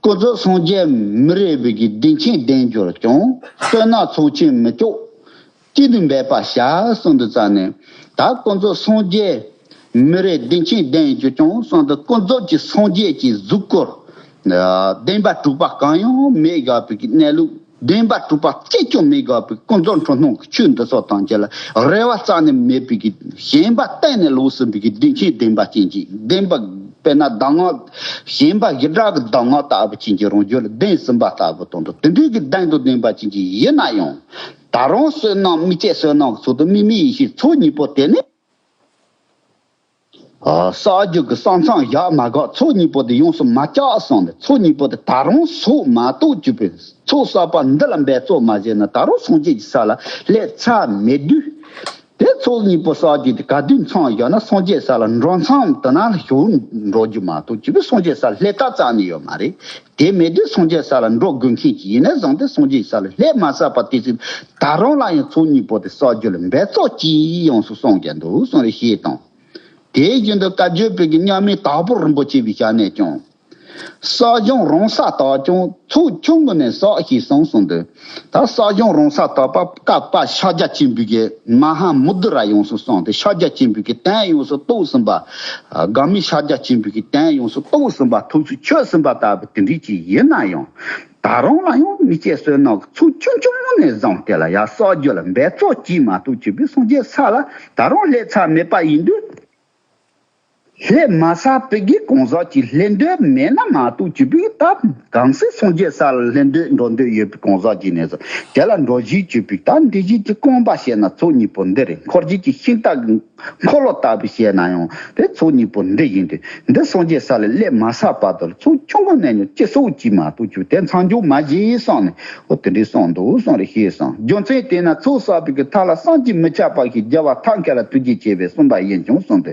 སྐུ་རྫོགས་སངས་རྒྱས་མི་རེ་བས་ཀྱི་སྡིངས་ཆེན་བདེ་འབྱོར་སྐྱོང་བསྟོད་སྣ་ཚོགས་ཆེན་མི་ལྕོགས་གཅིག་ཏུ་འབད་པ་བྱ་གསུང་དུ་བསྩལ་ནས། ད་སྐུ་རྫོགས་སངས་རྒྱས་མི་རེ་སྡིངས་ཆེན་བདེ་འབྱོར་སྐྱོང་གསུང་དུ་སྐུ་རྫོགས་ཀྱི་སངས་རྒྱས་ཀྱི་གཟུགས་སྐུར། བདེན་པ་དྲུག་པ་གང་ཡང་མེད་དགའ་བས་ཀྱི་གནས་ལུགས། བདེན་པ་གྲུབ་པ་གཅིག་ཀྱང་མི་དགག་པའི་ཀུན་རྫོབ་འཁྲུལ་སྣང་གི་ཆོས་འདི་སོགས་དང་བཅས་ལ་རེ་བ་རྩ་ནས་མེད་པའི་ཞེན་པ་གཏན་ནས་ལོགས་སུ་འབིགས་ཀྱི་བདེ་ཆེན་བདེན་པ་ཅན་གྱི་བདེན་པ། དཔེར་ན་གདམས་ངག་གཞན་པ་ཞི་དྲག་གི་གདམས་ངག་ལྟ་བུ་ཅན་གྱི་རང་རྒྱུད་ལ་གདེངས་ཟིན་པ་ལྟ་བུ་དང་འདྲ་དེ་འདྲའི་གི་གདེངས་དང་ལྡན་པ་ཅན་གྱི་ཡིད་ན་ཡང། ད་རུང་བསོད་ནམས་དམིགས་བཅས་བསོད་ནམས་ཀྱི་ཚོགས་དང་དམིགས་མེད་ཡེ་ཤེས་ཚོགས་གཉིས་པོ་དེ་ནི། ས་རྒྱུ་གི་གསང་མཚང་བཞག་མ་གག་ཚོགས་གཉིས་པོ་དེ་ཡོངས་སུ་མ་བཅག་གསུངས་ནས་ཚོགས་གཉིས་པོ་དེ་ད་རུང་ཟུག་མ་ཏོག་བཅུ་པའི་ཚོགས་བསགས་པ་འདི་ལ་འབད་རྩོལ་མ་བྱས་ན་ད་རུང་སངས་རྒྱས་ཀྱི་ས་ལ་སླེབ་ཚ་མེད་དུས། དེ་ཚོགས་གཉིས་པོ་བསགས་རྒྱུ་དེ་ག་དུས་མཚང་བཞག་ན་སངས་རྒྱས་ས་ལ་འགྲོ་མཚམས་དུ་ན་ཞུགས་འགྲོ་རྒྱུ་མ་ཏོག་བཅུ་པའི་སངས་རྒྱས་ས་ལ་སླེབ་ཐག་ཙམ་ནས་ཡོད་མ་རེད། དེ་མེད་དུས་སངས་རྒྱས་ས་ལ་འགྲོ་དགོས་མཁན་ཞིག་ཡིན་ནའི་བཟང་སྟེ་སངས་རྒྱས་ཀྱི་ས་ལ་སླེབ་མ་ས་པ་དེ་ཚོས་ད་རུང་ལ་ཡང་ཚོགས་གཉིས་པོ་དེ་གསོག་རྒྱུ་ལ་འབད་བརྩོག་ཅི་ཡོང་སུ་སོང་གི་འདུག་གསུང་རེ་ཞེས་དང། དེའི་རྒྱུན་དུ་བཀའ་བརྒྱུད་བོད་ཀྱི་མཉམ་མེད་དྭགས་པོ་རིན་པོ་ཆེ་བའི་ཞལ་ནས་ཀྱང། གསོག་སྦྱོང་རང་ས་དག་ཀྱང་ཚོགས་ཆུང་ངོས་ནས་གསོག་ཞེས་གསུངས་སོང་དུས། ད་གསོག་སྦྱོང་རང་ས་དག་པ་བཀའ་བབས་ཤཱཀྱ་སྐྱེས་འབུལ་གྱི་མ་ཧཱ་མུ་དཱུ་ར་ཡོང་སུ་སོང་དེ་ཤཱཀྱ་སྐྱེས་འབུལ་གྱི་རྟེན་ཡོངས་སུ་གཏོགས་ཟིན་པ། དགག་མི་ཤཱཀྱ་སྐྱེས་འབུལ་གྱི་རྟེན་ཡོངས་སུ་གཏོགས་ཟིན་པ་ཐུགས་སུ་ཆུད་ཟིན་པ་ལྟ་བུ་དེ་འདྲའི་ཅིག་ཡིན་ན་ཡང། ད་རུང་ལ་ཡང་མི་སྐྱེ་བསོད་ནམས་ཀྱི་ཚོགས་ཆུང་ཆུང་ངུ་ནས་བཟུང་དེ་ལ་ཡང་བསགས་རྒྱུ་ལ་འབད་རྩོལ་གྱིས་མ་གཏོགས་བྱིས་པའི་སངས་རྒྱས་ས་ལ་ད་རུང་སླེབས་ཚར་མེད་པ་ཡིན་དུས། སླེབས་མ་ས་པའི་དགེ་གང་ཟག་ཅིག་སླེབས་འདོད་མེད་ན་མ་གཏོགས་བྱིས་པའི་སྟབས་གང་སྲིད་སངས་རྒྱས་ས་ལ་སླེབས་འདོད་འགྲོ་འདོད་ཡོད་པའི་གང་ཟག་ཅིག་ནས་བཟུང་དེ་ལ་འགྲོ་བཞིན་བྱིས་པའི་སྟབས་འདི་བཞིན་གྱི་རྐང་པ་བཤད་ན་ཚོགས་གཉིས་པོ་འདི་རེད་འཁོར་བྱེད་ཀྱི་ཤིང་རྟ་གི་འཁོར་ལོ་ལྟ་བུ་བཤད་ན་ཡང་དེ་ཚོགས་གཉིས་པོ་འདི་ཡིན་ཏེ། འདི་སངས་རྒྱས་ས་ལས་སླད་མ་ས་བར་དུ་ཚོགས་ཆུང་ངུ་གནས་མྱོང་ཅི་སོགས་ཀྱིས་མ་གཏོགས་གྱུར་དེ་མཚང་འཇོག་མ་བྱེད་ཡིན་གསུངས་ནས་ཨོ་དེ་འདྲའི་གསུངས་འདུག་གསུངས་རེ་ཞེས་གསུངས་རྒྱུ་མཚན་དེས་ན་ཚོགས་བསགས་པའི་གི་ཐ་ལ་སངས་ཀྱིས་མི་ཆགས་པ་ཞིག་རྒྱལ་བ་ཐབས་མཁས་ལ་ཐུགས་རྗེ་ཆེ་བས་གསུངས་པ་ཡིན་ཀྱང་གསུངས་ཏེ།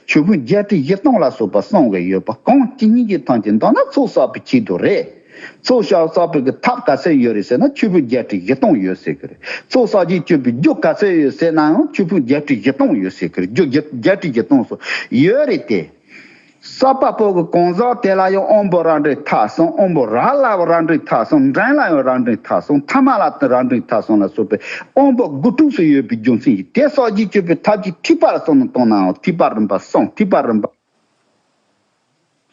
ཆོས་ཕུན་བརྒྱད་ཁྲི་བཞི་སྟོང་ལ་སོགས་པ་གསུངས་བས་ཡོད་པ་གང་ཅི་སྙིང་རྗེ་ཐང་ཅིག་འདོགས་ན་ཚོགས་བསགས་པའི་ཆེད་དུ་རེད། གཙོ་བྱ་བ་གསར་པའི་གི་ཐབས་ག་ཚད་ཡོད་རེད་ཟེར་ན་ཆུ་ཕུད་བརྒྱད་ཁྲི་བཞི་སྟོང་ཡོད་ཟེར་གི་རེད་གཙོ་བསགས་རྗེས་སྤྱོད་པའི་རྒྱུ་ག་ཚད་ཡོད་ཟེར་ནའང་ཆུ་ཕུད་བརྒྱད་ཁྲི་བཞི་སྟོང་ཡོད་ཟེར་གི་རེད་རྒྱུ་བརྒྱ་བརྒྱད་ཁྲི་བཞི་སྟོང་སོགས་ཡོད་རེད་དེ། གསར་པ་པོ་གི་གང་ཟག་དེ་ལ་ཡང་ཨོམ་བོ་ར་འགྲིག་མཐའ་སོང་ཨོམ་བོ་ར་ལ་ཡང་ར་འགྲིག་མཐའ་སོང་འགྲན་ལ་ཡང་ར་འགྲིག་མཐའ་སོང་མཐའ་མ་ལ་ར་འགྲིག་མཐའ་སོང་ལ་སོགས་པའི་ཨོམ་བོ་དགུ་ཕྲུགས་སུ་ཡོད་པའི་རྒྱུ་མཚན་གྱིས་དེ་བསགས་རྗེས་སྤྱོད་པའི་ཐབས་ཀྱིས་ཐིགས་པ་ལ་སོགས་ནང་བཏང་ནའང་ཐིགས་པ་རིམ་པ་སོང་ཐིགས་པ་རིམ་པ།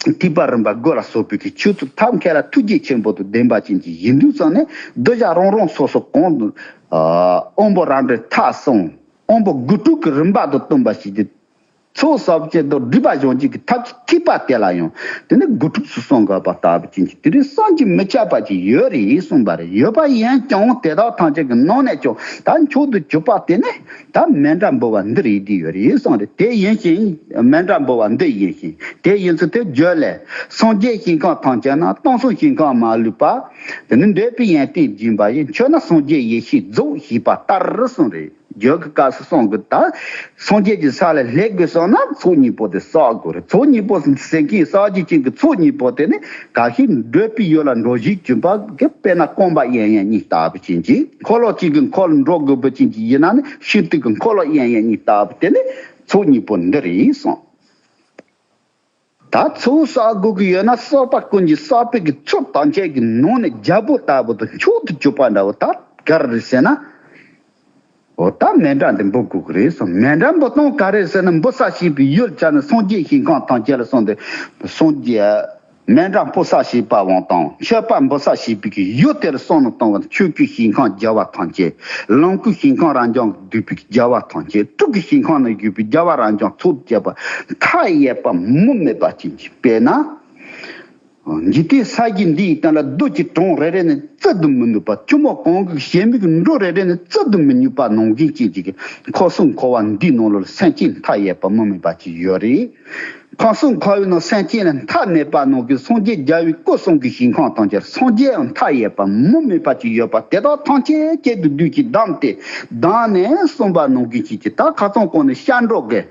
ཐིགས་པ་རིམ་པ་དགུ་ལ་སོགས་པའི་ཆོས་ཚུལ་ཐབས་མཁས་ལ་ཐུགས་རྗེ་ཆེན་པོ་དང་ལྡན་པ་ཅན་གྱི་གཞི་འདུས་ཙམ་ནས་གདུལ་བྱ་རང་རང་སོ་སོ་གང་དུ། དབང་པོ་རང་འདྲའི་ཐགས་བསྲུང། དབང་པོ་དགུ་དྲུག་གི་རིམ་པ་དང་བསྟུན་པ་བྱས་ཏེ། ཚོགས་བསགས་བསྐྱེད་རྫོགས་སྒྲིབ་པ་སྦྱོང་བྱེད་ཀྱི་ཐབས་ཀྱི་ཐིགས་པ་དེ་ལ་ཡང་དེ་ནས་དགུ་ཕྲུགས་སུ་གསང་སྔགས་པ་ལྟ་བུ་ཅན་གྱི་དེ་རིང་སངས་རྒྱས་མི་ཁྱབ་པ་ཅིག་ཡོད་རེད་གསུངས་པ་རེད་ཡོད་པ་ཡིན་ཀྱང་དེ་དག་ཐམས་ཅད་ཀྱི་ནང་ནས་ཀྱང་ད་མཆོག་ཏུ་གྱུར་པ་དེ་ནི་ད་མན་འདྲ་འབུལ་བ་འདིར་ཡིད་ཀྱི་ཡོད་རེ་ཡོད་གསུངས་ཏེ་དེ་ཡིན་ཞིང། མན་འདྲ་འབུལ་བ་འདི་ཡིན་ཞིང་དེ་ཡིན་ཚུལ་དེ་བརྗོད་ལས། སངས་རྒྱས་ཞིང་གང་ཐང་ཆད་ན་སྟོང་གསུམ་ཞིང་གང་མ་ལུས་པ། དེ་ནི་འདོད་པའི་ཡན་ཏན་སྦྱིན་པ་ཡིས་མཆོད་ན་སངས་རྒྱས་ཡེ་ཤེས་རྫོགས་ཞེས་པ་ལྟར་གསུངས་རེ་བརྗོད་ཀྱི་སྐབས་སུ་གསུང་དགོས་ད། སངས་རྒྱས་ཀྱི་ས་ལས་ལྷའི་གོས་གསོལ་ན་ཚོགས་གཉིས་པོ་དེ་བསག་དགོས་རེད་ཚོགས་གཉིས་པོ་ཟིན་གྱིས་ས་གཞི་ཅན་གྱི་ཚོགས་གཉིས་པོ་དེ་ནི་གང་ཞིག་འདོད་པའི་ཡུལ་ལ་འགྲོ་བཞིའི་བྱིན་པ་དཔེར་ན་སྐོམ་པ་ཡན་ཡན་གཉིས་ལྟ་བུ་བྱིན་གྱིས། འཁོར་ལོ་གཅིག་གི་འཁོར་འགྲོ་དགུ་པོ་ཅན་གྱི་ཡི་ན་ནི་ཤིན་ཏུ་གི་འཁོར་ལོ་དབྱེན་ཡས་གཉིས་ལྟ་བུ་དེ་ལས་ཚོགས་གཉིས་པོ་འདི་རེད་གསུངས། ད་ཚོགས་བསགས་དགོས་ཀྱི་ཡོད་ན་བསགས་པ་ཀུན་གྱི་བསགས་པའི་གི་ཚོགས་ཐམས་ཅད་ཀྱི་ནང་ནས་རྒྱལ་པོ་ལྟ་བུ་དང་མཆོག་ཏུ་གྱུར་པ་འདྲ་བོ་ད་གར་རེད་ཟེར་ན། འོ་ད་མེ་འདྲ་འདི་འབུ་དགོས་ཀྱི་རེད་གསུངས་མེ་འདྲ་འབུ་སྟོང་ག་རེད་ཟེར་ན་འབུ་བསགས་ཤེས་པའི་ཡུལ་ཆ་ནི་སངས་རྒྱས་ཞིང་ཁམས་ཐམས་ཅད་ལ་གསུངས་ཏེ་སངས་རྒྱས། སྨན་རག་འབུ་བསགས་བྱེད་པ་བང་དང་མཆོད་པ་འབུ་བསགས་བྱེད་པའི་གཞུ་དེར་སོགས་ནི་བཏང་བ་ཆོས་སྐུའི་ཞིང་ཁམས་རྒྱལ་བ་ཐམས་ཅད་ལོངས་སྐུའི་ཞིང་ཁམས་རང་བྱང་བསྡུས་པའི་རྒྱལ་བ་ཐམས་ཅད་དྲུག་གི་ཞིང་ཁམས་ན་བཞུགས་པའི་རྒྱལ་བ་རང་བྱང་ཚོགས་བརྒྱད་པ་མཐའ་ཡས་པ་མུ་མེད་པ་ཅན་གྱི་དཔལ་ན། འཇིག་རྟེན་ས་བརྒྱད་འདི་ཡི་སྟེང་ལ་རྡོ་རྗེ་གྲོང་རེ་རེ་ནས་བཙལ་དུ་མི་ནུས་པ་ཆུ་མོ་གངས་ཀྱི་བྱེ་མིག་འབྲུ་རེ་རེ་ནས་བཙལ་དུ་མི་ནུས་པ་ནོངས་འཛིན་ཅན་གྱི་འཁོར་གསུམ་འཁོར་བ་འདིའི་ནང་ལོར་སེམས་ཅན་མཐའ་ཡས་པ་མུ་མེད་པ་ཅིག་ཡོད་རེ། ཁང་སོང་ཁ་བའི་ནང་སེམས་ཅན་ལ་མཐའ་མེད་པ་ནང་གི་སངས་རྒྱས་རྒྱལ་བའི་སྐུ་གསུང་གི་ཞིང་ཁམས་དང་སྦྱར་སངས་རྒྱས་ཡང་མཐའ་ཡས་པ་མུ་མེད་པ་ཅིག་ཡོད་པ་དེ་དག་ཐམས་ཅད་ཁྱེད་ཀྱི་བདུད་ཀྱིས་བསྡམས་ཏེ་བདག་ནི་གསུམ་པ་ནང་གི་བྱས་ཀྱི་ད་ཁ་ཙོང་ཀོང་ནི་ཤར་འབྲོག་གི་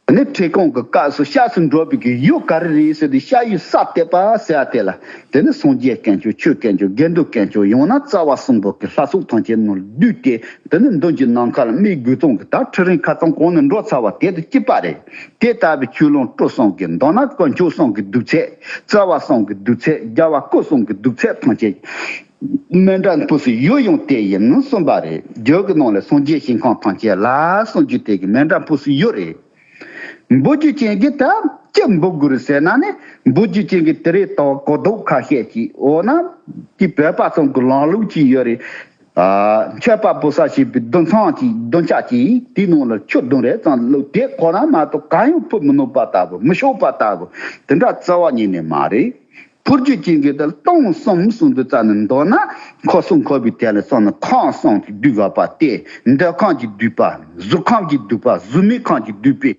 ནི་ཁྲེ་ཀོང་གི་སྐབས་སུ་ཤར་སུ་འབྲོག་པའི་གི་ཡུལ་ག་རེ་རེད་ཟེར་དུས་ཤར་ཡུལ་སྲ་བརྟན་པ་ཟེར་བ་དེ་ལ་དེ་ནི་སངས་རྒྱས་སྐལ་མཆོག་ཆོས་སྐལ་མཆོག་དགེ་འདུན་སྐལ་མཆོག་ཡང་ན་རྩ་བ་གསུམ་པོ་གི་ལྷ་སྲུང་ཐམས་ཅད་ནོར་བདུད་དེ། འདི་ནི་མདུན་གྱི་ནམ་མཁའ་ལ་མིག་དགུས་སྟོང་གི་དྭ་ཕྲུག་རིང་ཁ་ཙམ་གོང་ནས་འགྲོ་ཚར་བ་དེ་དང་གཅིག་པ་རེད། དེ་ལྟ་བུའི་ཆུ་ཀླུང་སྤྲོ་གསུམ་གྱི་མདོ་ན་དཀོན་མཆོག་གསུམ་གྱི་གདུགས་ཚད། རྩ་བ་གསུམ་གྱི་གདུགས་ཚད་རྒྱལ་བ་སྐུ་གསུམ་གྱི་གདུགས་ཚད་ཐམས་ཅད། མན་དྲ་འབུ་སྲིན་ཡུལ་ཡང་དེ་ཡིན་གསུངས་པ་རེད། རྒྱུད་ཀྱི་ནང་ལས་སངས་རྒྱས་ཞིང་ཁམས་ཐམས་ཅད་ལ་གསུངས་རྒྱུ་དེ་གི་མན་དྲ་འབུ་སྲིན་ཡུལ་རེད། འབུ་རྒྱུ་ཅན་གྱི་དང་སྐྱི་འབུ་དགུར་ཟེར་ན་ནི་འབུ་རྒྱུ་ཅན་གྱི་དེ་རེད་ལྟ་བ་གོ་ལྡོག་ཁ་ཤས་ཀྱིས་འོ་ན་དེ་བོད་པ་ཚང་གི་ལངས་ལུགས་ཅི་ཡོད་རེད། མཆོད་པ་པོ་ས་ཞེས་པའི་བདུན་ཚང་གྱི་བདུན་ཅག་གིས་དེའི་ནང་ལ་ཆུ་བདུན་རེ་ཙམ་བླུགས་དེ་གོ་ན་མ་གཏོགས་གང་ཡང་ཕུད་མི་ནུས་པ་ལྟ་བུ་མི་ཤོག་པ་ལྟ་བུ་དེ་འདྲ་རྩ་བ་ཉིད་ནས་མ་རེད། ཕུར་རྒྱུད་ཅན་གྱི་དེ་སྟོང་གསུམ་གསུང་དུ་རྩ་ནི་མདོར་ན་འཁོར་གསུམ་འཁོར་བའི་དེ་ལ་སོགས་ནི་ཁང་བཟངས་ཀྱིས་བསྡུས་པ་པ་སྟེ་འདོད་ཁང་གིས་བསྡུས་པ་གཟུགས་ཁམས་ཀྱིས་བསྡུས་པ་གཟུགས་མེད་ཁང་གིས་བསྡུས་པའི་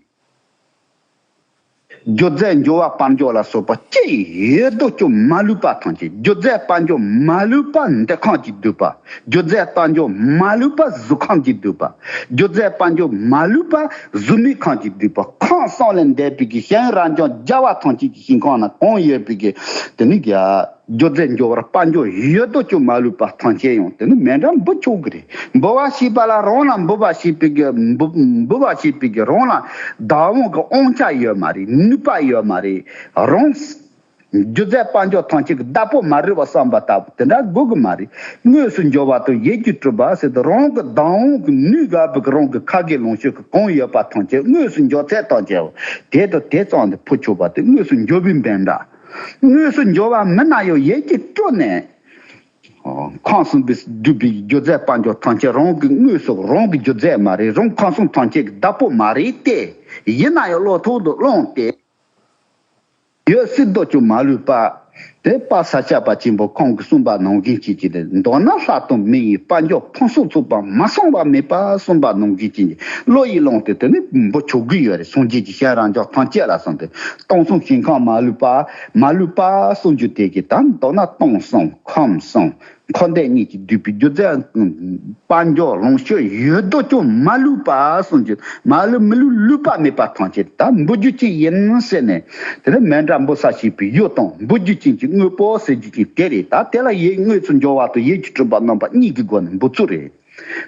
སྒྱུ་རྩལ་འགྱུར་བ་དཔལ་འབྱོར་ལ་སོགས་པ་སྐྱེ་ཡི་རྡོ་སྐྱོ་མ་ལུས་པ་ཐམས་ཅད་སྒྱུ་རྩལ་དཔལ་འབྱོར་མ་ལུས་པ་འདོད་ཁང་གིས་བསྡུས་པ་སྒྱུ་རྩལ་དཔལ་འབྱོར་མ་ལུས་པ་གཟུགས་ཁམས་ཀྱིས་བསྡུས་པ་སྒྱུ་རྩལ་དཔལ་འབྱོར་མ་ལུས་པ་གཟུགས་མེད་ཁང་གིས་བསྡུས་པ་ཁང་བཟངས་ལས་འདས་པའི་གཞན་ཡང་རང་བྱུང་རྒྱལ་བ་ཐམས་ཅད་ཀྱི། ཞིང་ཁོངས་ན་གོང་ཡོད་པའི་གི་དེ་ནི་གི་སྒྱུ་རྩལ་འབྱོར་བར་དཔའ་འབྱོར་ཡུལ་ཡོད་དོ་ཅོག་མ་ལུས་པ་ཐང་ཆེན་ཡང་དེ་ནི་མེ་འདྲ་འབུད་ཆོག་གི་རེད་འབུད་བ་ཞེས་པ་ལ་རང་ལ་འབུད་པ་ཞེས་པའི་གི་འབུད་བ་ཞེས་པའི་གི་རང་ལ་བདག་དབང་གི་དབང་ཆ་ཡོད་མ་རེད་ནུས་པ་ཡོད་མ་རེད་རང་སྒྱུ་རྩལ་དཔའ་འབྱོར་ཐང་ཆེན་གི་བདག་པོ་མ་རེད་བ་བསམ་པ་ལྟ་བུ་དེ་འདྲ་དགོས་གི་མ་རེད་དངོས་སུ་འབྱོར་བ་དང་ཡས་རྒྱུས་གྲུབ་པ་ཟེར་དུ་རང་གི་བདག་དབང་གི་ནུས་ག་བུ་གི་རང་གི་ཁ་གི་ལོངས་སྤྱོད་གི། གང་ཡོད་པ་ཐམས་ཅད་དངོས་སུ་འབྱོར་ཚད་དང་བཅས་པ། དེས་དང་དེ་གཙང་དུ་ཕོ་ཆོག་པ་སྟེ་དངོས་སུ་འབྱོར་བུའི་འབེན་འདྲ། དངོས་སུ་འབྱོར་བ་མི་རྣམས་ཡང་ཡས་ཀྱིས་བཀྲོལ་ནས། ཁང་སྲུང་གིས་སྒྲུབ་པའི་སྒྱུ་རྩལ་དཔའ་འབྱོར་ཐམས་ཅད་རང་གི་དངོས་སོགས་རང་གི་སྒྱུ་རྩལ་མ་རེད་རང་ཁང་སྲུང་ཐམས་ཅད་ཀྱི་བདག་པོ་མ་རེད་དེ། ཡིན་ན་ཡང་བློ་ཐོག་ཏུ་བླངས་ཏེ། ཡོད་སྲིད་རྡོ་གཅོག་མ་ལུས་པ། དེ་དཔའ་ས་སྐྱ་པ་ཆེན་པོ་ཁོང་གི་གསུངས་པ་ནང་བཞིན་བྱེད་ཀྱི་རེད་མདོར་ན་ལྷག་དོན་མི་ཡི་དཔའ་མགྱོགས་ཕུན་སུམ་ཚོགས་པ་མ་གསུངས་པ་མེད་པ་གསུངས་པ་ནང་བཞིན་བྱེད་ཀྱི་བློ་ཡིས་བླངས་ཏེ་དེ་ནི་འབུ་ཆོག་གི་ཡོད་རེད་སངས་རྒྱས་ཀྱི་ཞལ་རང་ཅག་ཐམས་ཅད་ལ་གསུངས་ཏེ་སྟོང་གསུམ་ཞིང་ཁམས་མ་ལུས་པ། མ་ལུས་པ་གསུངས་རྒྱུ་དེ་གི་ད་མདོར་ན་སྟོང་གསུམ་ཁམས་གསུམ། འཁོར་འདས་གཉིས་ཀྱིས་བསྡུས་པའི་སྒྱུ་རྩལ་དཔའ་མགྱོགས་ལོངས་སྤྱོད་ཡོད་དོ་ཅོག་མ་ལུས་པ་གསུངས་ཀྱི། མ་ལུས་མི་ལུས་ལུས་པ་མེད་པ་ཐམས་ཅད་དུ་ད་འབུ་རྒྱུ་ཅན་ཡིན་ཟེར་ནས། དེ་ནི་མེ་འདྲ་འབུ་ས་ཞེས་པའི་གཡུ་དང་འབུ་རྒྱུ་ཅན་གྱི་དངོས་པོ་ཟེར་རྒྱུ་ཅན་དེ་རེད་ད་དེ་ལ་ཡིད་དངོས་སུ་འབྱོར་བ་དང་ཡིད་ཀྱི་སྤྲུལ་པ་རྣམ་པ་གཉིས་ཀྱི་སྒོ་ནས་འབུ་ཚུལ་རེད།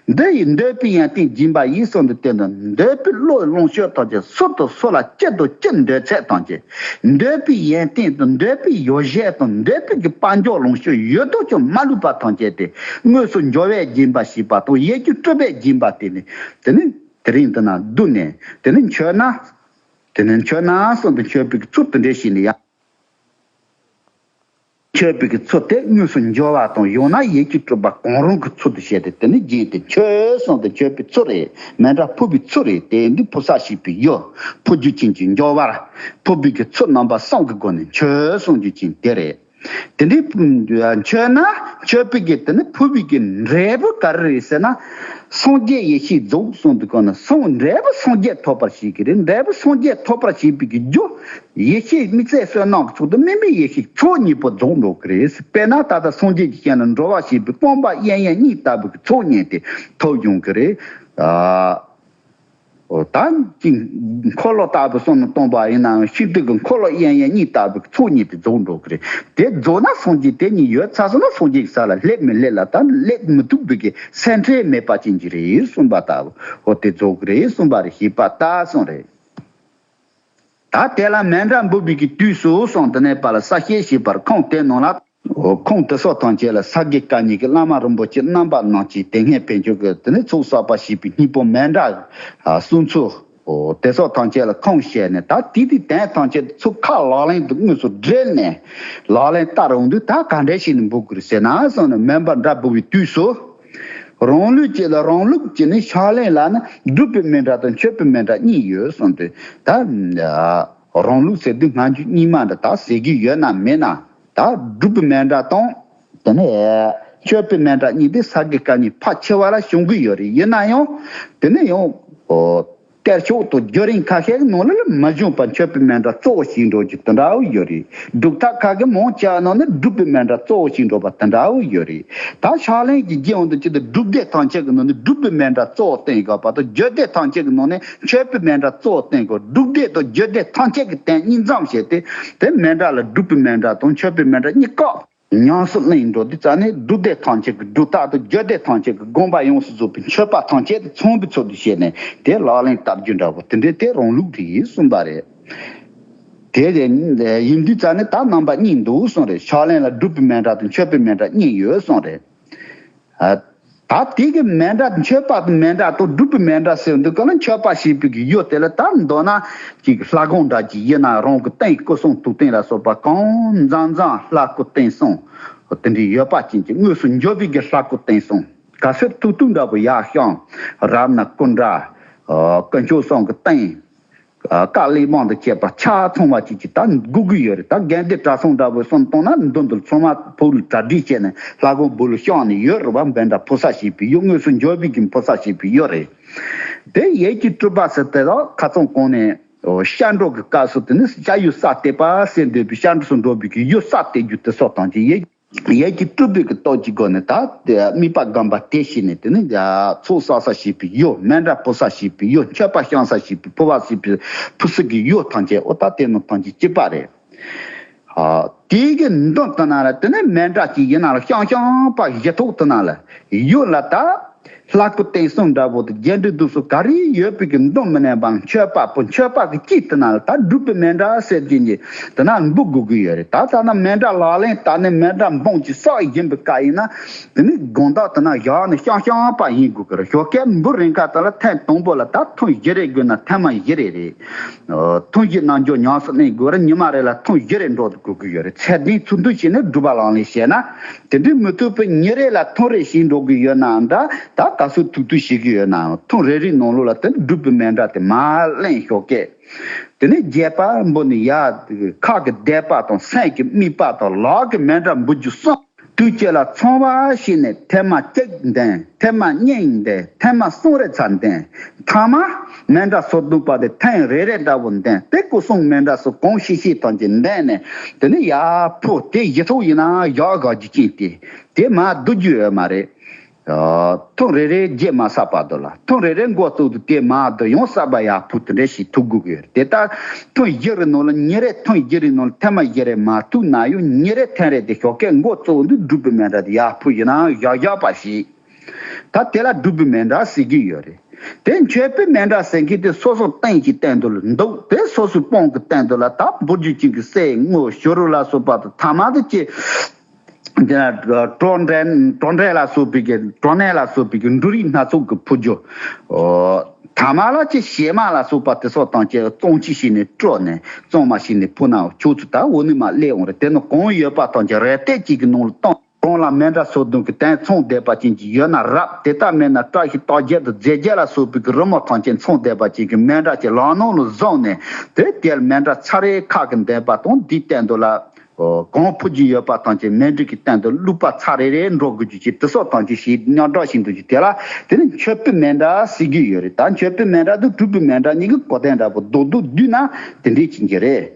འདི་ཡི་འདོད་པའི་ཡང་ཏིང་སྦྱིན་པ་ཡིས་སོགས་འདི་བསྟན་ཏོ། འདོད་པའི་བློ་ཡི་ལོངས་སྤྱོད་དག་ཅིང་སོ་དང་སོ་ལ་སྐྱེད་དང་སྐྱེད་འདོད་ཚད་དང་བཅས། འདོད་པའི་ཡན་ཏིང་དང་འདོད་པའི་ཡོ་བྱད་དང་འདོད་པའི་གི་དཔའ་མགྱོགས་ལོངས་སྤྱོད་ཡོད་དོ་ཅོག་མ་ལུས་པ་དང་བཅས་ཏེ་དངོས་སུ་འབྱོར་བས་སྦྱིན་པ་བྱས་པ་དང་ཡས་ཀྱི་སྤྲོས་པས་སྦྱིན་པ་སྟེ་ནི། དེ་ནི་དེ་རིང་དུ་ན་བསྡུ་ནས་དེ་ནི་མཆོད་ན། དེ་ནི་མཆོད་ན་སོགས་འདི་མཆོད་པའི་གི་ཚུལ་དུ་འགྲེ་ཞིང་ནི་ཡང། ཁྱོད་བོད་ཀྱི་ཚུལ་དེ་དངོས་སུ་འབྱོར་བ་དང་ཡང་ན་ཡིད་ཀྱི་སྤྲུལ་པ་གང་རུང་གི་ཚུལ་དུ་བྱས་ཏེ་དེ་ནི་རྒྱན་ཏེ་ཁྱོད་གསུང་དང་ཁྱོད་བུའི་ཚུལ་རེད་མེད་འདྲ་ཕུ་བོའི་ཚུལ་རེད་དེ་འདི་ཕུ་ས་ཞིག་པའི་ཡུལ་ཕུ་རྒྱུ་ཅན་གྱི་འབྱོར་བར་ཕུ་བོས་ཀྱི་ཚུལ་རྣམ་པ་གསུམ་གྱི་སྒོ་ནས་ཁྱོད་གསུང་རྒྱུ་ཅན་དེ་རེད། དེ་འདྲའི་ཁྱོད་ན་ཁྱོད་བོད་ཀྱི་དེ་ནི་ཕུ་བོས་ཀྱི་འབྲས་བུ་ག་རེ་རེད་ཟེར་ན། སངས་རྒྱས་ཡེ་ཤེས་རྫོགས་སོང་དུས་གང་ན་སངས་འབྲས་བུ་སངས་རྒྱས་ཐོབ་པར་བྱེད་ཀྱི་རེད་འབྲས་བུ་སངས་རྒྱས་ཐོབ་པར་བྱེད་པའི་རྒྱུ་ཡེ་ཤེས་དམིགས་བསལ་བསོད་ནམས་ཀྱི་མཆོག་ཏུ་སྨིན་པའི་ཡེ་ཤེས་མཆོག་གཉིས་པོ་རྫོགས་འགྲོ་གི་རེད། དཔེར་ན་ད་ལྟ་སངས་རྒྱས་ཀྱི་ཞིང་ལ་འགྲོ་བ་ཞེས་པའི་སྤོང་པ་གཡས་གཡོན་གཉིས་ལྟ་བུའི་ཚོགས་བསྙེན་ཏེ་ཐོབ་ཡོང་གི་རེད། ད་ཅིང་འཁོར་ལོ་ལྟ་བུའི་བསོད་ནམས་སྟོང་པ་ཡིན་ནའང་ཤིན་ཏུ་གི་འཁོར་ལོ་གཡས་གཡོན་གཉིས་ལྟ་བུའི་ཚོགས་བསྙེན་ཏེ་རྫོགས་འགྲོ་གི་རེད། དེ་རྫོགས་ན་སངས་རྒྱས་དེ་ཉིད་ཡོད་ཚ་ས་ན་སངས་རྒྱས་ཀྱི་ས་ལ་སླེབས་མི་སླེབས་ལ་ད་སླེབས་མི་ཐུབ་འདུག་གི་སེམས་ཁྲལ་མེད་པ་ཅན་གྱི་རེད་གསུངས་པ་ལྟ་བུ་ཧོ་དེ་རྫོགས་གི་རེད་གསུངས་པ་རེད་ཞེས་པ་ལྟ་སོང་རེད། ད་དེ་ལ་མན་འདྲ་འབུལ་བས་ཀྱི་དུས་སུ་སོང་དེ་ནས་པ་ལ་ས་སྐྱའི་ཞེས་པར་ཁོང་དེ་ནང་ལ། ཁོང་དེ་སོགས་དང་བཅས་ལ་ས་དགེ་བཀའ་ཉིད་ཀྱི་བླ་མ་རིན་པོ་ཆེ་རྣམ་པ་རྣམས་ཀྱིས་དེ་སྔའི་བན་ཆོས་ཀྱི་དེ་ནས་ཚུགས་བསགས་པ་ཞེས་པའི་སྙིང་པོ་མན་འདྲ། གསུང་ཚུལ། དེ་སོགས་དང་བཅས་ལ་ཁོང་བཤད་ནས་ད་དེ་དུས་དེང་དང་བཅས་ཚུགས་ཁག་ལག་ལེན་དུ་དངོས་སུ་སྦྲེལ་ནས་ལག་ལེན་བསྟར་འོང་དུས་ད་ག་འདྲས་ཤིག་ནས་འབུལ་དགོས་རེད་ཟེར་ན་སོང་ནས་མན་པ་འདྲ་འབུལ་བའི་དུས་སུ། རང་ལུས་ཀྱི་ལ་རང་ལུགས་ཀྱི་ནི་ཕྱག་ལེན་ལ་ནི་སྒྲུབ་པའི་མན་ཏྲ་དང་མཆོད་པའི་མན་ཏྲ་གཉིས་ཡོད་གསུངས་ཏེ། ད་རང་ལུགས་ཟེར་དུས་སྔ་འགྱུར་རྙིང་མ་འདི་དག་ཟེར་གྱི་ཡོད་ན་མེད་ན། ད་སྒྲུབ་པའི་མན་ཏྲ་དང། དེ་ནས་མཆོད་པའི་མན་ཏྲ་གཉིས་དེ་ས་དགེ་བཀའ་གཉིས་ཕ་ཆེ་བ་ལ་བྱུང་གི་ཡོད་རེད་ཡིན་ན་ཡང། དེ་ནས་ཡང། སྐལ་ཆོག་ཏུ་རྒྱུ་རིང་ཁ་ཤས་ནང་ལ་ལ་མི་བྱུང་བར་མཆོད་པའི་མེ་འདྲ་གཙོ་བོ་ཞིག་འགྲོ་རྒྱུ་དེ་འདྲ་བོ་ཡོད་རེད་འབྲུག་ཐག་ཁ་ཁའི་མང་ཆེ་བ་ནང་ན་སྒྲུབ་པའི་མེ་འདྲ་གཙོ་བོ་ཞིག་འགྲོ་པ་དེ་འདྲ་བོ་ཡོད་རེད་ད་ཕྱག་ལེན་གྱི་རྗེས་འོང་དུ་ཅི་སྟེ་སྒྲུབ་སྡེ་ཐམས་ཅད་ཀྱི་ནང་ནས་སྒྲུབ་པའི་མེ་འདྲ་གཙོ་བོ་བསྟན་དགོས་པ་དང་རྒྱུད་སྡེ་ཐམས་ཅད་ཀྱི་ནང་ནས་མཆོད་པའི་མེ་འདྲ་གཙོ་བོ་བསྟན་དགོས་སྒྲུབ་སྡེ་དང་རྒྱུད་སྡེ་ཐམས་ཅད་ཀྱི་སྟེང་གཉིས་མཚམས་བྱས་ཏེ་དེ་མེ་འདྲ་ལ་སྒྲུབ་པའི་མེ་འདྲ་དང་མཆོད་པའི་མེ་འདྲ་གཉིས་བཀག། ཉམས་སུ་ལེན་འགྲོ་དུས་རྩ་ནི་སྒྲུབ་བདེ་ཐང་ཆེ་གི་སྒྲུབ་རྟག་ཏུ་རྒྱུད་སྡེ་ཐང་ཆེ་གི་དགོངས་པ་ཡོངས་སུ་རྫོགས་པའི་མཆོད་པ་ཐང་ཆེ་དེ་ཚོམ་བུའི་ཚུལ་དུ་བྱས་ནས་དེ་ལག་ལེན་བསྟར་རྒྱུ་འདྲ་བོ་དེ་འདྲའི་དེ་རང་ལུགས་དེ་ཡིན་གསུངས་པ་རེད། དེ་ལས། ཡིན་དུས་རྩ་ནི་ད་རྣམ་པ་གཉིས་འདུག་གསུངས་རེད་ཕྱག་ལེན་ལ་སྒྲུབ་པའི་མན་ཏྲ་དང་མཆོད་པའི་མན་ཏྲ་གཉིས་ཡོད་གསུངས་རེད། ད་དེ་གི་མན་འདྲ་མཆོད་པ་དང་མན་འདྲ་དང་སྒྲུབ་པའི་མན་འདྲ་ཟེར་འདུག་ག་ལ་མཆོད་པ་ཞེས་པའི་གི་ཡོད་དེ་ལ་དར་མདོ་ན་ཅིག་ལྷ་དགོངས་འདྲ་གྱི་ཡེ་ན་རང་གི་རྟེན་སྐུ་གསུང་ཐུགས་རྟེན་ལ་སོགས་པ་གང་མཛངས་མཛངས་ལྷ་སྐུ་རྟེན་གསུང་དེ་འདྲའི་ཡོད་པ་ཅན་གྱི་དངོས་སུ་འབྱོར་བའི་གི་ལྷ་སྐུ་རྟེན་གསུང་ག་གསེར་ཐུག་ཐུག་འདྲ་བུ་ཡག་ཤང་རབ་ན་སྐུ་འདྲ་སྐུ་མཆོག་སྲང་གི་རྟེན། བཀའ་གླིག་མང་དུ་བཅས་པ་ཆ་ཚང་བ་བཅས་ཀྱིས་ད་སྒུག་གི་ཡོད་རེད་ད་རྒན་དེ་བཀྲ་སྲུང་འདྲ་བོས་སོམ་གཏོང་ན་མདུན་དུ་མཚོ་མ་ཕུག་ལ་གྲ་སྒྲིག་བྱས་ནས་ལྷ་གོང་བུ་ལ་བཤངས་ནས་ཡོད་རེད་བ་འབེན་འདྲ་ཕོ་སར་བྱས་པའི་ཡོད་དངོས་སུ་འཇོ་བོད་ཀྱི་ཕོ་སར་བྱས་པའི་ཡོད་རེད། དེ་ཡས་ཀྱི་སྤྲུལ་པ་ཟེར་དེ་དག་ཁ་ཚོན་གང་ནས་ཤར་འགྲོ་གི་སྐབས་སུ་དེ་ནས་ཤར་ཡོད་སར་བལྟས་པ་སེ་འདོད་པའི་ཤར་འགྲོ་སུ་འགྲོ་བོད་ཀྱི་ཡོད་སར་བལྟས་རྒྱུ་དེ་སོགས་དང་བཅས་ཡས་ཀྱི་ཡས་ཀྱི་སྤྲུལ་པའི་གི་ཏོག་གི་སྒོ་ནས་དག་སྟེ་རྨིས་པ་སྒམ་པ་སྟེ་ཤི་ནས་དེ་ནི་ཚུགས་བསགས་ས་ཞིག་པའི་གཡོ་སྨན་ར་སྤོ་ས་ཞིག་པའི་གཡོ་མཆོད་པ་བཤང་ས་ཞིག་པའི་ཕུ་བ་སྲིད་པའི་ཕུ་སྲི་གི་གཡོ་ཐང་ཆད་འོ་ད་དེ་ནི་ཐང་ཆད་སྐྱིད་པ་རེད། དེ་གི་མདུན་དུ་ན་ལ་དེ་ནི་སྨན་ར་ཅིག་ཡིན་ན་ལ་བཤང་བཤང་པ་གི་ཞེ་ཐོག་དུ་ན་ལ་གཡོ་ལ་དག་ལྷ་སྐུ་བསྟན་བསྲུང་དགྲ་བོ་དང་རྒྱལ་འགྲོའི་གདུགས་སུ་ག་རེ་ཡོད་པའི་གི་མདོ་མི་ནས་པའང་ཆོས་དཔའ་བོ་ཆོས་དཔའ་གི་སྐྱིད་དེ་ན་ལ་ད་སྒྲུབ་པའི་མན་འདྲ་སེར་སྐྱེན་གྱི་དེ་ན་ལ་འབུ་དགོས་གི་ཡོད་རེད་ད་ཐ་ན་མན་འདྲ་ལག་ལེན་ད་ནི་མན་འདྲ་འབུངས་ཀྱི་སྲོག་ཡིན་པའི་ཀ་ཡིན་ན་དེ་ནི་དགོངས་དག་དེ་ན་བཞག་ནས་ཤང་ཤང་པ་ཡིན་དགོས་གི་རེད་ཞོ་ཀའི་འབུ་རིང་ཁ་ད་ལ་ཐེངས་དང་པོ་ལ་ད་ཐུང་བཞི་རེ་དགོས་ན་ཐེངས་མ་བཞི་རེ་རེད་ཐུང་བཞི་ནང་འཇོག་ཉང་སོ་གནས་དགོས་ར་ཉི་མ་རེ་ལ་ཐུང་བཞི་རེ་འགྲོ་དགོས་གི་ཡོད་རེད་ཚད་ལྡན་ཚུར་འདུ་བྱས་ནས་སྒྲུབ་པ་ལང་ལས་བྱས་ན་དེ་འདྲའི་མི་ཐུབ་པའི་ཉིན་རེ་ལ་ཐུང་རེ་ཞིག་འགྲོ་གི་ཡོད་ནའང་འདྲ་ད་ད་གཟོད་ཐུག་ཐུག་བྱེད་ཀྱི་ཡོད་ནའང་ཐུང་རེ་རེའི་ནང་ལོགས་ལ་དེ་འདྲ་སྒྲུབ་པའི་མེ་འདྲ་དེ་མ་གླེང་ཞོག་ཀྱེ། དེ་ནས་རྒྱལ་པ་འབུ་ནི་ཡ། ཁག་གི་བཟླས་པ་དང་སེམས་ཀྱི་དམིགས་པ་དང་ལག་གི་མེ་འདྲ་འབུལ་རྒྱུ་གསུངས། དུས་ཁྱེད་ལ་ཚང་བ་ཞིག་ནས་ཐེངས་མ་གཅིག་འདེང་ཐེངས་མ་གཉིས་འདེང་ཐེངས་མ་གསུམ་རེ་ཚ་འདེང་ཐང་མ། མན་འདྲ་སོ་བདུག་པ་དེ་ཐེངས་རེ་རེ་འདྲ་བོ་འདན་དེ་སྐུ་གསུང་མན་འདྲ་སོ་གང་ཤིག་ཤིག་ཐང་ཅིག་འདན་ནས་དེ་ནི་ཡག་པོ་དེ་ཡི་ཐུགས་ཡིན་ན་ཡག་ག་རྒྱུ་ཅིག་དེ་དེ་མ་བསྡུ་རྒྱུ་ཡོད་མ་རེད། ཐུང་རེ་རེ་རྗེས་མ་བསགས་པ་དུ་ལ་ཐུང་རེ་རེ་འགོ་བཙུགས་དུ་དེ་མ་བསྡུ་ཡང་བསགས་པ་ཡག་པོ་དེ་འདྲ་ཞིག་ཐུག་དགོས་ཀྱི་ཡོད་དེ་ལྟར་ཐུང་བཞི་རེ་ནང་ལ་ཉིན་རེ་ཐུང་བཞི་རེ་ནང་ལ་ཐེངས་མ་བཞི་རེ་མ་ཐུག་ན་ཡང་ཉིན་རེ་ཐེངས་རེ་དེ་ཞོགས་སྐད་འགོ་བཙུགས་འདུག་སྒྲུབ་པའི་མན་འདྲ་དེ་ཡག་པོ་ཡིན་ན་ཡག་ཡག་པ་ཞིག། ད་དེ་ལ་སྒྲུབ་པོའི་མེ་འདྲ་ཟེར་གྱི་ཡོད་རེད། དེ་མཆོད་པོའི་མེ་འདྲ་ཟེར་མཁན་དེ་སོ་སོ་སྟེང་གི་བསྟན་དོན་ལ་འདུག་དེ་སོ་སོའི་སྤོང་གི་བསྟན་དོན་ལ་ད་འབུར་རྒྱུ་བྱིན་གྱི་སྲས་དངོས་ཞོ་རུ་ལ་སོགས་པ་དང་ཐ་མ་དང་བཅས་དེ་ན་གྲོ་འབྲས་ལ་སོགས་པའི་གྲོ་ནས་ལ་སོགས་པའི་འབྲུ་རིགས་སྣ་ཚོགས་ཀྱི་ཕུར་རྒྱུ། ཐ་མ་ལ་ཅི་ཞེ་མ་ལ་སོགས་པ་དེ་སོགས་དང་བཅས་བཙོང་ཅི་ཞིག་ནས་བཀྲོལ་ནས་བཙོང་མ་ཞིག་ནས་ཕུར་ནའོ་ཕྱོགས་ཚུལ་ད་འོ་ནི་མ་གླས་འོང་རེད་དེ་ནི་གང་ཡོད་པ་དང་བཅས་རལ་གཏད་ཅིག་གི་ནང་ལ་བཏང། གང་ལ་མེ་འདྲ་སོ་བདུན་གྱི་སྟན་མཚུངས་བཟླས་པ་ཅན་གྱི་ཡོད་ན་རབ་དེ་ལྟར་མེད་ན་བཀྲ་ཤིས་རྟགས་བརྒྱད་དང་རྫས་བརྒྱད་ལ་སོགས་པའི་གྱི་རི་མོ་ཐང་ཆེན་མཚུངས་བཟླས་པ་ཅན་གྱི་མེ་འདྲ་གྱི་ལག་ནང་ལ་བཟུང་ནས་དེ་དེར་མེ་འདྲ་ཚར་རེའི་ཁ་གི་འདོན་པ་དང་འདིའི་སྟེང་དུ་ལ། གང་ཕུལ་རྒྱུ་ཡོད་པ་ཐང་ཆེན་མེ་འབྲུག་གི་སྟེང་དུ་བླུགས་པ་ཚར་རེ་རེ་འགྲོ་དགོས་རྒྱུ་ཅི་དི་སོགས་ཐང་ཆེན་བཞིའི་རྙོག་གྲོགས་ཤིག་འདུག་རྒྱུ་དེ་ལ་དེ་ནི་མཆོད་འབུལ་མེ་འདྲ་ཟེར་རྒྱུ་ཡོད་རེད་ད་མཆོད་འབུལ་མེ་འདྲ་དང་སྤྲུལ་སྐུ་མེ་འདྲ་གཉིས་ཀྱི་གོ་དན་འདྲ་པོ་འདུག་འདུག་བསྡུས་ན་དེ་འདྲས་ཅན་གྱི་རེད།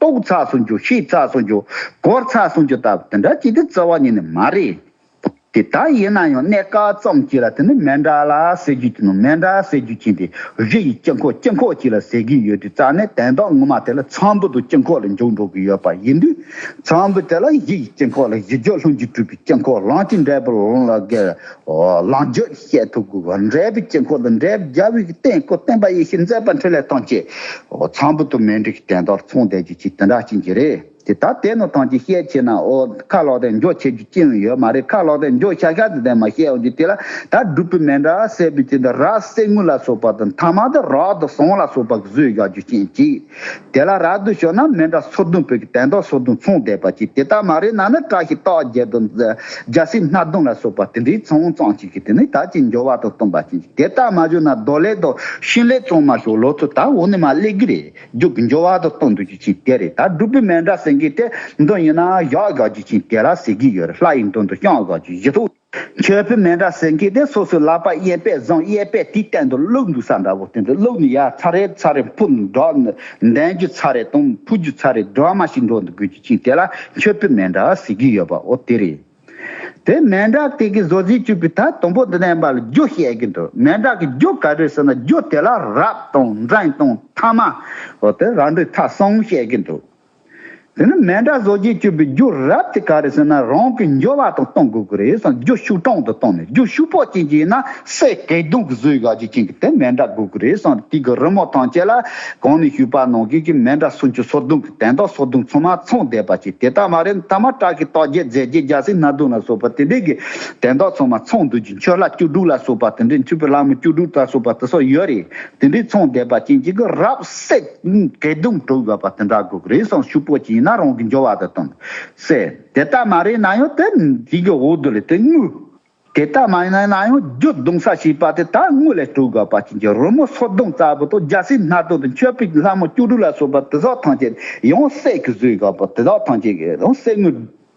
ཏོག་ཚགས་སུ་འགྱུ་ཤིག་ཚགས་སུ་འགྱུ། གོར་ཚགས་སུ་འགྱུ་ལྟ་བུ་དེ་འདྲ་ཅིག་དེ་རྩ་བ་ཉིད་ནས་མ་རེད། དེ་ལྟ་ཡིན་ན་ཡང་གནད་འགག་ཙམ་གཅིག་ལ་དེ་ནི་མན་འདྲ་ལ་ཟེར་རྒྱུ་གྱི་ནང་མན་འདྲ་ཟེར་རྒྱུ་གྱིན་དེ་གཞི་ཡི་སྐྱེ་འཁོར་སྐྱེ་འཁོར་གཅིག་ལ་ཟེར་གྱིན་ཡོད་དུས་རྩ་ནས་དན་རྟགས་ངོ་མ་དེ་ལ་ཚངས་བུག་ཏུ་སྐྱེ་འཁོར་ལ་འཇུག་འགྲོ་གི་ཡོད་པ་ཡིན་དུས་ཚངས་བུག་དེ་ལ་གཞི་ཡི་སྐྱེ་འཁོར་ལ་གཞི་སྦྱོར་ལྷུན་གྱིས་གྲུབ་པའི་སྐྱེ་འཁོར་ལངས་ཀྱི་འབྲས་བུར་ལོངས་ལ་བརྒལ་བའི་ལོངས་སྦྱོད་བཤད་ཐུབ་དགོས་པ་འབྲས་བུའི་དཀྱིལ་འཁོར་དང་འབྲས་བུ་རྒྱལ་བའི་སྟེང་སྐུ་བསྟན་པ་ཡེ་ཤེས་མཛད་པ་འཕྲིན་ལས་ཐམས་ཅད་ཚངས་བུག་ཏུ་མེ་འབྲས་ཀྱི་སྟན་ལྟར་མཚུངས་བསྡད་རྒྱུ་ཅི་དེ་འདྲ་ཅི་འགྱིག་རེད་དེ་ད་དེ་ནོ་ཐང་ཅི་བཤད་ཆེ་ན་ཨོ་ཁ་ལོག་དལ་འབྱོར་བྱེད་རྒྱུ་ཅི་ཡང་ཡོད་མ་རེད་ཁ་ལོག་དལ་འབྱོར་ཤག་ཤག་དེ་དེ་མ་བཤད་འོང་རྒྱུ་དེ་ལ་ད་སྒྲུབ་པོའི་མེ་འདྲ་སེར་པོའི་སྤྱི་དང་ར་བསེ་དངུལ་ལ་སོགས་པ་དང་ཐ་མ་དང་རག་དང་ཟངས་ལ་སོགས་པ་གཟོས་བཞག་རྒྱུ་ཅི་འགྱིག། དེ་ལ་རག་ཏུ་ཞོག་ན་མན་འདྲ་སོར་བདུན་བོད་ཀྱི་དན་ཏོག་སོར་བདུན་མཚུངས་བསྡེབས་པ་ཅིག་དེ་ལྟར་མ་རེག་ན་ནི་བཀྲ་ཤིས་རྟགས་བརྒྱད་དང་རྒྱལ་སྲིད་སྣ་བདུན་ལ་སོགས་པ་དེ་འདྲའི་ཚོང་བཙང་ཅིག་གིས་དེ་ནི་དག་ཅིང་འབྱོར་བ་དང་སྟོང་པ་ཅན་ཅིག་དེ་ལྟར་མ་བྱུང་ན་རྡོ་ལེགས་དང་ཤིང་ལེགས་བཙོང་མ་ཞོག་ལོ་ཚོད་དག་འོག་ནས་མ་སླེབས་ཀྱི་རེད་རྒྱུག་གི་འབྱོར་བ་དང་སྟོང་འདུག་ཅིག་ཅིང་དེ་རེད་ད་སྒྲུབ་པོའི་མན་འདྲ་ཟེར་མཁན་དེ་འདི་ཡིན་ན་བཞག་བཞག་ཅིག་ཅིང་དེ་ལ་ཟེར་གྱི་ཡོད་རེད་ལྷ་ཡི་མདུན་དུ་བཤང་བཞག་ཅིག་བཞི་ཐུག། ཁྱོད་བུད་མེད་འདྲ་ཟེར་མཁན་དེ་སོ་སོའི་ལག་པ་གཡས་པས་བཟང་གཡས་པས་དེའི་སྟེང་དུ་བླུགས་འདུག་ས་འདྲ་བོ་དེ་འདྲ་བླུགས་ནས་ཡར་ཚ་རེ་ཚ་རེ་འཕུར་འགྲོ། འདན་རྒྱུ་ཚ་རེ་དང་འཕུར་རྒྱུ་ཚ་རེ་སྒྲོལ་མ་ཞིག་འགྲོ་འདུག་དགོས་རྒྱུ་གཅིག་དེ་ལ་ཁྱོད་བུད་མེད་འདྲ་ཟེར་གྱི་ཡོད་པ་འོ་དེ་རེད། དེ་མེད་འདྲ་དེ་གའི་བཟོ་རྩིས་བཅུག་པའི་ཐད་དང་པོ་འདི་ནས་པར་རྒྱུ་བཤད་གྱི་འདུག་མེད་འདྲ་གི་རྒྱུ་ག་རེ་ཟེར་ན་རྒྱུ་དེ་ལ་རབ་དང་འཛིང་དང་ཐ་མ། འོ་དེ་རང་འགྲོས་ཐག་སོང་བཤད་གྱི་འདུག། དེ་ནི་མེ་འདྲ་བཟོ་རྗེས་སྤྱོད་པའི་རྒྱུ་རབས་དེ་ག་རེ་ཟེར་ན་རང་གི་འབྱོར་བ་དང་གཏོང་དགོས་ཀྱི་རེད་བསམ་རྒྱུ་ཤུགས་དྲང་དུ་བཏང་ནས་རྒྱུ་ཤུགས་ཕོག་ཅིང་བྱས་ན་སའི་བཀལ་བརྡུང་གི་བཟོས་ཡག་ཅིག་ཅན་གྱི་དེ་མེ་འདྲ་དགོས་ཀྱི་རེད་བསམ་དུས་ཀྱི་རི་མོ་ཐང་ཆད་ལ་གང་ནས་བཤུས་པ་ནང་ཁུལ་གྱི་མེ་འདྲ་སུ་འཆུ་སོ་བརྡུང་གི་དན་ཏོག་སོ་བརྡུང་ཚང་མ་ཚང་བསྡད་པ་ཅིག་དེ་ལྟ་མ་རེད་མཐའ་མ་བྲག་གི་ལྟོག་རྒྱས་རྫས་རྒྱས་རྒྱ་སེ་སྣ་བརྡུང་ལ་སོགས་པ་དེ་འདྲས་ཀྱི་དན་ཏོག་ཚང་མ་ཚང་འདུག་ཅིང་མཆོད་ལྷ་བཅུ་དྲུག་ལ་སོགས་པ་དེ་འདྲས་མཆོད་པའི་ལྷ་མོ་བཅུ་དྲུག་ལྟ་སོགས་པ་དེ་སོགས་ཡོད་རེད་དེ་འདྲས་ཚང་བསྡད་པ་ཅན་གྱི་གི་རབས་སའི། སྐད་གདུང་དྲུག་ཡོད་པ་དེ་འདྲ་དགོས་ཀྱི་རེད་སོང་ཤུག་པོ་ཅིག་ཡིན་ན་རང་གི་འབྱོར་བ་དེ་སྟོན་དགོས། ཟེར། དེ་ལྟར་མ་རེད་ན་ཡང་དེ་འདྲིའི་འོག་རྡོ་ལས་དེ་དངུལ། དེ་ལྟར་མ་ཡིན་ན་ཡང་རྒྱུ་གདུང་ས་བྱིས་པ་དེ་ད་དངུལ་ལས་དྲུག་དགོས་པ་ཅན་གྱི་རོལ་མོ་སོ་བདུན་རྩ་བུ་དང་རྒྱ་སེ་སྣ་བདུན་དང་མཆོད་པའི་ལྷ་མོ་བཅུ་དྲུག་ལ་སོགས་པ་དེ་དག་ཐམས་ཅད་ཡང་སྲེག་གི་བཟོས་ཡོད་པ་དེ་དག་ཐམས་ཅད་ཡང་སྲེག་དངུལ།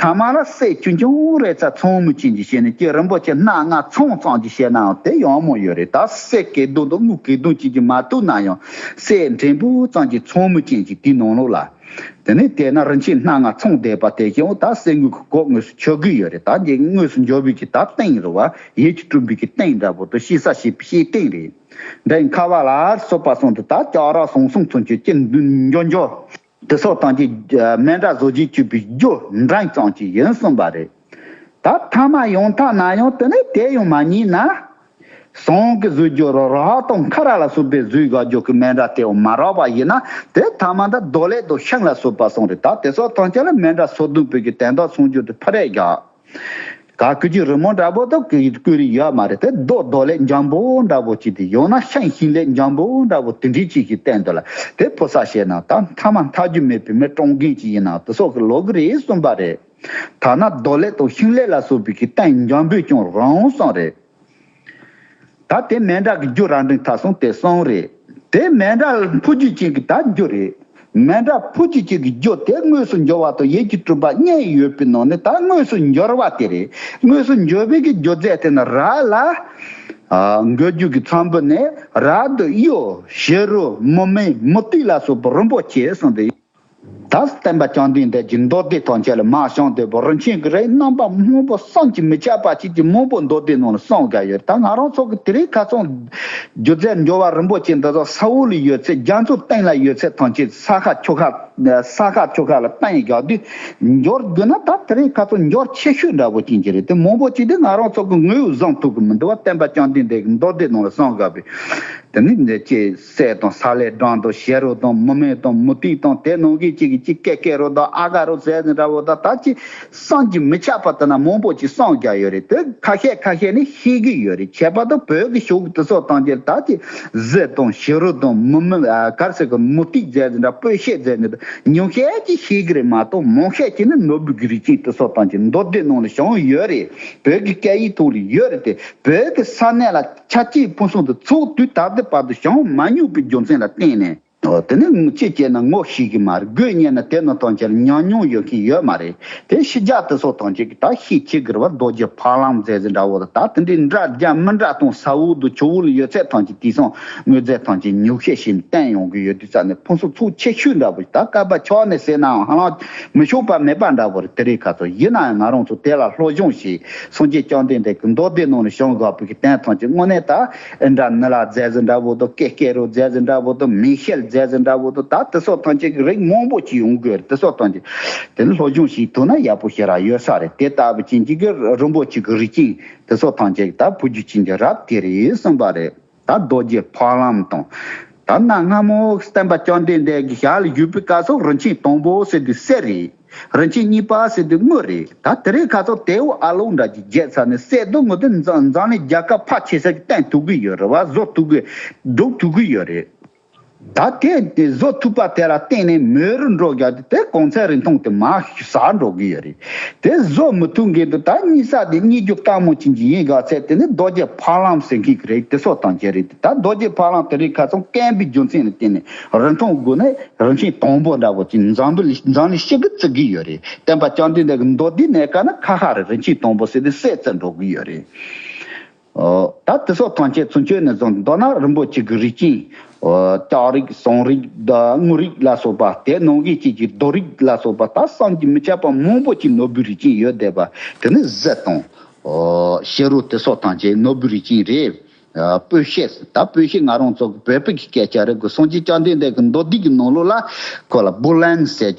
ཐ་མ་ལ་སྲས་ཆུང་ཆུང་རེ་ཚ་ཚོང་མི་ཆེན་གྱི་ཞལ་ནས་ཀྱེ་རིན་པོ་ཆེ་སྣ་ལྔ་ཚང་ཚང་གྱི་ཞལ་ནའང་དེ་ཡང་མང་ཡོད་རེད་ད་སྲས་སྐལ་རྡོ་དང་དམུ་སྐལ་རྡོ་གཅིག་གིས་མ་གཏུགས་ན་ཡང་སྲས་འབྲིང་པོ་ཙམ་གྱི་ཚོང་མི་ཅན་གྱི་དེའི་ནང་ལོགས་ལ། དེ་ནས་དེ་ན་རིན་ཆེན་སྣ་ལྔ་ཚང་བསྡད་པ་དེ་ཡང་ད་སྲས་དངུལ་གྱི་གོག་ངོས་སུ་ཆོད་གི་ཡོད་རེད་ད་འདི་དངོས་སུ་འཇོ་བོད་ཀྱི་ད་སྟེང་རུ་བ་ཡིད་ཀྱི་སྤྲུལ་འབུལ་གྱི་སྟེང་འདྲ་པོ་དང་ཤི་ས་ཤི་པའི་ཤི་སྟེང་རེད། འདྲེ་མཁར་བ་ལ་སོགས་པ་གསུང་དུ་ད་ལྕགས་ར་ཟུང་གསུམ་ཚུན་ཆོད་ཀྱི་འཇོ་འཇོ། དེ་སོགས་དང་གྱི་སྨན་དྲག་བཟོ་རྗེས་གཅུད་པའི་རྒྱུ་འབྲང་ཙམ་གྱི་ཡིན་གསུངས་པ་རེད། ད་ཐ་མ་ཡོང་ཐག་ན་ཡོང་དེ་ནས་དེ་ཡང་མ་རྙེད་ན། ཟངས་ཀྱི་གཟུགས་རྒྱུ་རོ་ར་ཧག་དང་ཁ་ར་ལ་སོགས་པའི་གཟུགས་ཡག་རྒྱུ་གི་སྨན་དྲག་དེ་ཡང་མ་རག་པ་ཡིན་ན་དེ་ཐ་མ་འདི་རྡོ་ལེགས་དང་ཤིང་ལ་སོགས་པ་གསུངས་རེད་ད་དེ་སོགས་ཐམས་ཅད་ལ་སྨན་དྲག་བཟོ་དོན་བོད་ཀྱི་དན་རྟགས་མཚུངས་རྒྱུ་དེ་ཕ་རས་རྒྱག། ག་གུ་གུ་རི་མོ་འདྲ་པོ་དང་གུ་གུ་རི་ཡོད་མ་རེད་དེ་རྡོ་རྡོ་ལས་འཇམ་པོ་འདྲ་པོ་གཅིག་དེ་ཡང་ན་ཤིང་ཤིང་ལས་འཇམ་པོ་འདྲ་པོ་དེ་འདྲའི་གཅིག་ཞིག་བསྟན་འདུག་ལ་དེ་ཕོ་ས་ཞེས་ནང་ད་མཐའ་མ་མཐའ་རྒྱུ་མེད་བུད་མེད་བཀྲོངས་མཁན་གཅིག་ཡིན་ནང་དུ་སོག་གི་ལོག་གི་རེད་གསུངས་པ་རེད། ཐ་ན་རྡོ་ལས་དང་ཤིང་ལས་ལ་སོགས་པའི་གི་བསྟན་འཇམ་པོས་ཀྱང་རང་སངས་རེད། ད་དེ་མན་དྲག་གི་རྒྱུ་རང་འགྲིག་མཐའ་སོང་དེ་སོང་རེད། དེ་མན་དྲག་ཕུ་རྒྱུད་ཅན་གྱི་ད་རྒྱུ་རེད། མན་དྲག་ཕུ་རྒྱུད་ཅན་གྱི་རྒྱུ་དེ་དངོས་སུ་འབྱོར་བ་དང་ཡིད་ཀྱི་སྤྲུལ་པ་གཉིས་ཡོད་པའི་ནང་ནས་ད་དངོས་སུ་འབྱོར་བ་དེ་རེད། དངོས་སུ་འབྱོར་བའི་གི་རྒྱུ་རྫས་དེ་ན་ར་ལ། འགོས་རྒྱུ་གི་ཚོམ་བུ་ནས་ར་དུ་གཡོ། བྱི་རུ། མུ་མེད། མུ་ཏིག་ལ་སོགས་པ་རིན་པོ་ཆེ་གསུངས་པའི། དག་བསྟན་པ་བསྐྱངས་དུས་འདི་བཞིན་མདོ་སྡེ་ཐམས་ཅད་ལ་མ་བྱང་དོལ་པོ་རིན་ཆེན་གྱི་རིགས་རྣམ་པ་སྔོན་པོ་བསམ་གྱིས་མི་ཁྱབ་པ་བྱེད་ཀྱི་མང་པོ་མདོ་སྡེའི་ནང་ལ་གསུངས་བསྡད་ཡོད་ད་ང་རང་ཚོ་གི་དེ་རིགས་ཁ་ཚང་སྒྱུ་རྩལ་འབྱོར་བ་རིན་པོ་ཆེ་འདི་དག་ས་འོག་ལ་ཡོད་ཚད་རྒྱ་མཚོའི་སྟེང་ལ་ཡོད་ཚད་ཐམས་ཅད་ས་ཁ་ཆུ་ཁ་ས་ཁ་ཆུ་ཁ་ལ་གཏན་བཞག་དུས་འབྱོར་རྒྱུ་ན་ད་དེ་རིགས་ཁ་ཚང་འབྱོར་ཆེ་ཤོས་འདྲ་བོ་ཅན་གྱི་རིགས་དེ་མང་པོ་བྱས་ཏེ་ང་རང་ཚོ་གི་ངོས་བཟང་ཐུག་གི་མི་འདུག་བ་བསྟན་པ་བསྐྱངས་དུས་འདི་བཞིན་མདོ་སྡེའི་ནང་ལ་གསུངས་བསྡད་པས་དེ་ནི་མཛེས་བྱེད། སྲས་དང་ས་ལས་སྦྲང་དང་ཞལ་རོ་དང་མུ་མེད་དང་མུ་ཏིག་དང་དེ་ནང་གི་གཅིག་གིས་གཅིག་ཀེ་ཀེ་རོ་དང་ཨ་ག་རོ་ཟས་ཟིན་འདྲ་བོ་དང་ད་ཅི་སངས་ཀྱིས་མི་ཁྱབ་པ་ལྟར་ན་མང་པོ་ཅིག་སངས་རྒྱ་ཡོད་རེད་དེ་ཁ་ཤས་ཁ་ཤས་ནི་ཤེས་ཀྱི་ཡོད་རེད་ཁྱད་པར་དུ་བོད་ཀྱི་ཤོག་བུ་དེ་ཚོ་བཏང་རྗེས་ད་ཅི་གཟི་དང་ཞི་རུ་དང་མུ་མེད་ཨ་གར་ཟེར་གི་མུ་ཏིག་ཟས་ཟིན་འདྲ་སྤོས་ཤེལ་ཟས་ཟིན་འདྲ་ཉུང་ཤས་ཀྱིས་ཤེས་ཀྱི་རེད་མ་གཏོགས་མང་ཤས་ཀྱིས་ནི་ནོར་བུ་གྱི་རིགས་ཅན་དེ་ཚོ་བཏང་རྗེས་མདོ་སྡེ་ནང་ལ་བྱུང་ཡོད་རེད་བོད་ཀྱི་སྐད་ཡིག་ཐོག་ལ་ཡོད་རེད་དེ་བོད་ཀྱི་ས་གནས་ལ། ཆ་གཅིག་ཕུན་སུམ་དུ་ཚོགས་དུས་ད་ལྟའི་བར་དུ་བྱང་མ་མྱོང་པའི་རྒྱུ་མཚན་ལ་བརྟེན་ནས། དེ་ནི་ཅི་བྱས་ན་ངོ་ཤེས་ཀྱི་མ་རེད་དགོས་ཉན་ན་དེ་ནི་ཐང་ཆེར་ཉམས་མྱོང་ཡོད་མཁན་ཡོད་མ་རེད་དེ་ཤི་རྒྱག་དེ་སོགས་ཐང་ཆེ་གི་དག་ཤེས་ཆེ་གི་རེད་བ་རྡོ་རྗེ་ཕག་ལམ་མཛད་ཟེར་འདྲ་བོ་ད་ལྟ་དེ་འདྲའི་འདྲ་རྒྱ་མི་འདྲ་སྟོང་ས་འོག་ཏུ་ཆུ་བོ་ལ་ཡོད་ཚད་ཐང་ཆེ་དེ་སང་ངོས་རྫས་ཐང་ཆེ་ཉུག་ཤས་ཤིག་བསྟན་ཡོང་གི་ཡོད་དུས་ས་ནས་ཕུན་སུམ་ཚོགས་ཆེ་ཤོས་འདྲ་བོ་ཞིག་ད་སྐལ་པ་ཕྱོགས་ནས་བསད་ནའང་ཧ་ལམ་མི་ཤོང་པ་མེད་པ་འདྲ་བོ་རེད་དེ་རེད་ཁ་ཚོར་ཡིན་ནའང་ང་རང་ཚོ་དེ་ལ་བློ་སྦྱོང་བྱེད་སངས་རྒྱས་བསྐྱངས་ལྡན་འདས་ཀྱི་མདོ་སྡེ་རྣམས་ལ་ཤོང་དགའ་བོ་གྱི་གདན་ཐང་ཆེན་དངོས་གནས་དག་ཨིན་དྲ་ནི་ལ་རྫས་ཟི་འདྲ་བོ་དང་ཀེ་ཀེ་རུ་རྫས་ཟི་འདྲ་བོ་དང་མི་ཤེལ་རྫས་ཟི་འདྲ་བོ་དང་ད་དེ་སོགས་ཐང་ཆེན་གྱི་རིགས་མང་པོ་ཅི་ཡོང་གི་རེད་དེ་སོགས་ཐང་ཆེན་དེ་ལ་སློབ་སྦྱོང་ཞིག་ཐུབ་ན་ཡག་པོ་ཞིག་རག་ཡོད་ས་རེད་དེ་ལྟ་བུ་ཅན་གྱི་རིན་པོ་ཆེ་གི་རིགས་ཅན་དེ་སོགས་ཐང་ཆེན་གྱི་ད་བུ་རྒྱུད་ཅན་གྱི་རབས་དེ་རེད་གསུངས་པ་རེད། ད་རྡོ་རྗེ་འཕགས་ལམ་དང། ད་གནའ་སྔ་མོ་བསྟན་པ་བསྐྱངས་དུས་འདས་ཀྱི་ཞལ་བཞུགས་པའི་བཀའ་སོགས་རིན་ཆེན་དང་པོ་ཟེར་དུས་གསེར་རེད། རིན་ཆེན་གཉིས་པ་ཟེར་དུས་དངུལ་རེད། ད་དེ་རིགས་ཁ་སོགས་དེའུ་ཨ་ལོང་འདྲ་གྱིས་བརྒྱད་ཚར་ནས་བསད་རྡུང་ངོ་ཏི་འཛངས་ནས་རྒྱ་གར་ཕག་ཆེ་སར་གྱི་སྟེང་ཐུག་གི་ཡོད་རེད་བ་བཟོ་ཐུབ་གི། སྒྲུག་ཐུབ་གི་ཡོད་རེད། ད་དེ་བཟོ་ཐུབ་པ་དེ་ལ་བརྟེན་ནས་མོའི་རུ་འགྲོ་རྒྱག་དུས་དེ་གོང་ཚད་རིན་ཐུང་དེ་མ་ཟ་འགྲོ་གི་ཡོད་རེད། དེ་བཟོ་མི་ཐུབ་མཁན་དུ་ད་གཉིད་ས་དེ་གཉིད་རྒྱུ་སྟག་མོ་བྱིན་གྱི་ཡིན་དགག་ཚད་དེ་ནི་རྡོ་རྗེ་ཕ་ལམ་ཟེར་མཁན་གྱི་རེད་དེ་སོགས་དང་བཅས་རེད་དེ་ད་རྡོ་རྗེ་ཕ་ལམ་དེ་རིགས་ཁ་ཚང་བསྐན་པའི་རྒྱུ་མཚན་ལ་བརྟེན་ནས་རིན་ཐུང་དགོས་ནི་རིན་ཆེན་དང་པོ་འདྲ་བོ་ཅིག་འཛམ་བུ་འཛམ་གླིང་ཤི་གི་བརྩི་གི་ཡོད་རེད་བསྟན་པ་སྤྱང་གྲུང་འདི་གི་མདོ་སྡེའི་གནད་ཀ་ནི་ཁ་ཁ་རེད་རིན་ཆེན་དང་པོ་ཟེར་དུས་སད་བརྩི་འགྲོ་གི་ཡོད་རེད། ད་དེ་སོགས་ཐམས་ཅད་ཚུན་ཆོད་ནས་བཟུང་མདོར་ན་རིན་པོ་ཆེ་གི་རིགས་ཅན། ལྕགས་རིགས་ཟངས་རིགས་དངུལ་རིགས་ལ་སོགས་པ་དེ་ནང་གི་བཅས་ཀྱི་རྡོ་རིགས་ལ་སོགས་པ་དག་བསམ་གྱིས་མི་ཁྱབ་པ་མང་པོ་ཅིག་ནོར་བུའི་རིགས་ཅན་ཡོད་བསྡད་པ་དེ་ནི་གཟེར་དང། ཤེལ་རོ་དེ་སོགས་ཐམས་ཅད་ནོར་བུའི་རིགས་ཅན་རེད། སྤོས་བཤད། ད་སྤོས་བཤད་ང་རང་ཚོ་གི་བོད་ཕྲུག་གི་སྐད་ཆ་རེད་གོ་སངས་རྒྱས་བཅའ་འདེད་འདས་ཀྱི་མདོ་སྡེ་གི་ནང་ལུགས་ལ་ཁོ་ལ་བུ་ལན་ཟེར།